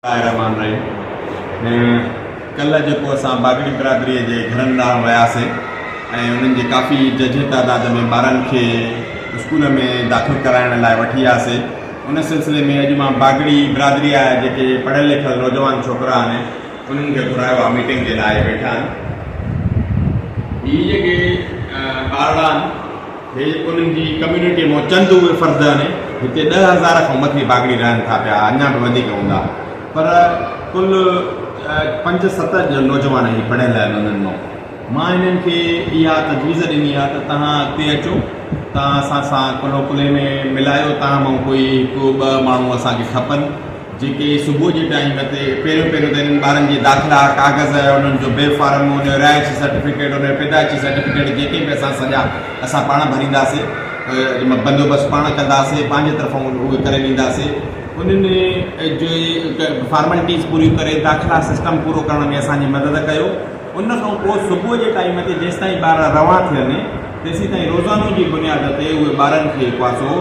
الله الرحمٰن الرحيم ڪلهه جيڪو اسان باگڙي برادري جي گهرن ڏانهن وياسين ۽ انهن جي ڪافي ججهي تعداد ۾ ٻارن کي اسڪول ۾ داخل ڪرائڻ لاء وٺي آياسي ان سلسلي ۾ اڄ مان باگڙي برادري جا جيڪي پڙهيل لکيل نوجوان ڇوڪرا آهن انهن کي گهرايو آهي ميٽنگ جي لاء ويٺا آهن هي جيڪي ٻارڙا آهن هي انهن جي ڪميونٽيء مان چند اهي فرد آهن، هتي ڏهه هزار کان مٿي باگڙي رهن ٿا پيا، اڃا به وڌيڪ هوندا، پر ڪل پنج ست نوجوان هي پڙهيل آهن، انهن مان مان هنن کي اها تجويز ڏني آهي ته توهان اڳتي اچو، توهان اسان سان ڪلهو ڪلهي ۾ ملايو، توهان مان ڪوئي هڪ ٻه ماڻهو اسان کي کپن. جيڪي صبح جي ٽائيم تي پهريون پهريون ته انهن ٻارن جي داخلا ڪاغذ انهن جو بي فارم انهن جو رهائشي سرٽيفڪيٽ انهن جو پيدائشي سرٽيفڪيٽ جيڪي به اسان سڄا اسان پاڻ ڀرينداسي بندوبست پاڻ ڪنداسي پنهنجي طرفون اهي ڪري ڏينداسي انهن جي فارملٽيز پوريون ڪري داخلا سسٽم پورو ڪرڻ ۾ اسان جي مدد ڪيو ان کان پوء صبح جي ٽائيم تي جيستائين ٻار روان ٿين تيسين تائين روزانو جي بنياد تي اهي ٻارن کي پاسو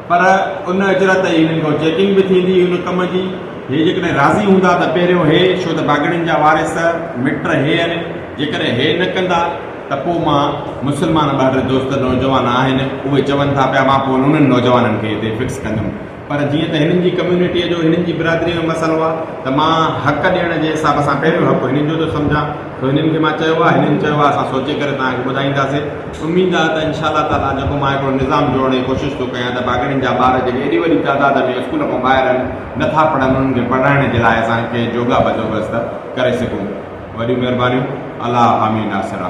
پر ان اجرت ۽ هنن کان چيڪنگ به ٿيندي ان ڪم جي. هي جيڪڏهن راضي هوندا ته پهريون هي ڇو ته باگڙين جا وارث مٽ هي هن جيڪڏهن هي نه ڪندا ته پو مان مسلمان ٻهر دوست نوجوان آهن اهي چون ٿا پيا مان پو انهن نوجوانن کي هتي فڪس ڪندم پر جيئن ته هنن جي ڪميونٽيء جو هنن جي برادريء جو مسئلو آهي ته مان حق ڏيڻ جي حساب سان پهريون حق هنن جو ٿو سمجهان ٿو هنن کي مان چيو آهي هنن چيو آهي اسان سوچي ڪري توهان کي ٻڌائينداسين. اميد آهي ته انشاء الله تعاليٰ جيڪو مان هڪڙو نظام جوڙڻ جي ڪوشش ٿو ڪيان ته ڀاڳڙين جا ٻار جيڪي ايڏي وڏي تعداد ۾ اسڪول کان ٻاهر آهن نٿا پڙهن انهن کي پڙهائڻ جي لاء اسان ڪنهن جوڳا بندوبست ڪري سگهون وڏيون مهربانيون الله حامي ناصره.